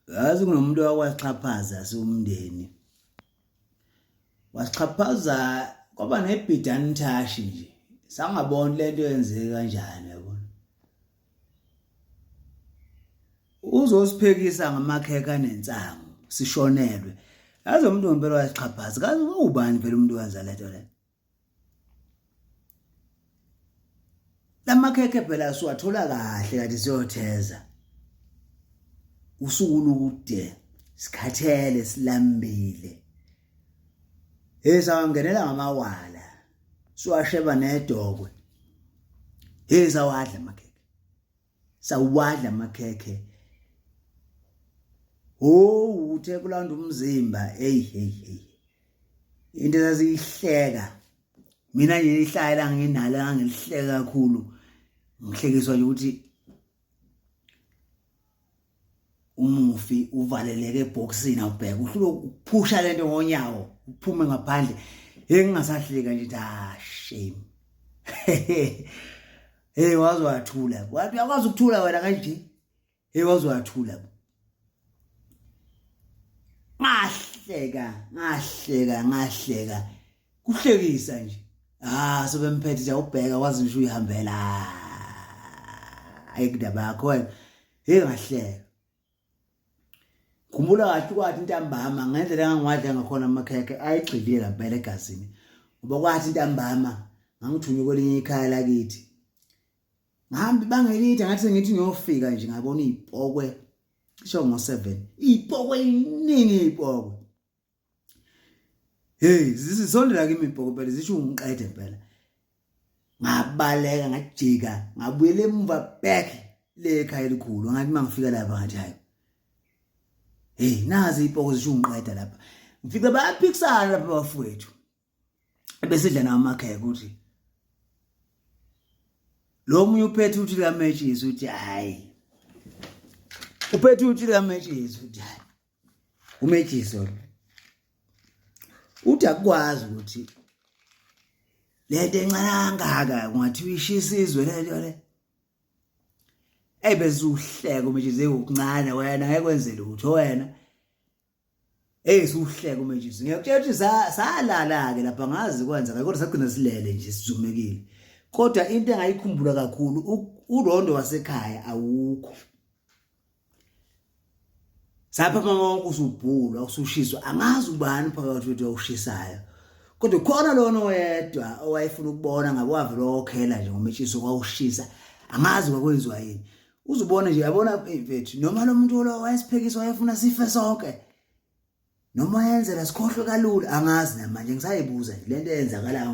yazi kunomuntu wakwaxhaphaza siwumndeni wasixhaphaza kwaba nebhidani thashi nje sangaboni lento yenzeke kanjani yabona uzosiphekisa ngamakheka nensangu sishonelwe yazi umuntu ngempela wasixhaphaza kazi ubani vele umuntu wenza lento le lamakhekhe phela siwathola kahle kanti siyotheza usuku lukude sikhathele silambile hey sawangenela ngamawala siwasheba nedokwe hey sawadla amakhekhe sawadla amakhekhe ho uthe kulanda umzimba hey hey hey into ezaziyihleka mina nje ihlaya la nginalo ngangilihleka kakhulu ngihlekiswa nje ukuthi umufi uvaleleke ebhokisini awubheke uhlulo ukuphusha lento ngonyawo uphume ngaphandle hey ngingasahleka nje ah shame hey waze wathula wathi uyakwazi ukuthula wena kanje hey waze wathula ngahleka ngahleka ngahleka kuhlekisa nje ah sebemphethe nje ubheka wazi nje uyihambela ayikudaba yakho wena hey ngahleka khumbula kahle kwathi intambama ngendlela engangiwadla ngakhona amakhekhe ayigxilile lampela egazini ngoba kwathi intambama ngangithunywe kwelinye ikhaya lakithi ngihamba ibanga elide ngathi sengithi ngiyofika nje ngabona iy'pokwe cisho ngo-seven iy'pokwe iningi iy'pokwe hey zisondela kimi ibhokobhele zisho ungiqede impela ngabaleka ngajika ngabuyela emuva back le ekhaya elikhulu ngathi mangifika lapha ngathi hayi hey nazi ipoko zisho ungiqeda lapha ngifike bayaphikisana lapha bafowethu ebesidla nawo amakheke ukuthi lo munye uphethe uthi la matches uthi hayi uphethe uthi la matches uthi hayi umatches uthi akukwazi ukuthi lento encane kangaka kungathiwa ishisa izwe lento le ebezuhleka umatches ewukuncane wena ngeke kwenze lutho wena Hey suhleke uma nje ngiyakutshela ukuthi salala ke lapha ngazi kwenzeka kodwa sagcina silele nje sizumekile kodwa into engayikhumbula kakhulu urondo wasekhaya awukho sapha mama usubhulwa usushiswa angazi ubani phakathi kwethu awushisayo kodwa khona lona oyedwa owayefuna ukubona ngabe wavele okhela nje ngometshisi kwawushisa angazi kwakwenziwa yini uzubone nje yabona eh, mfethu noma lo muntu lo wayesiphekisa wayefuna sife sonke noma yenzela sikhohlwe kalula angazi namanje ngisayibuza le nto eyenzakalayo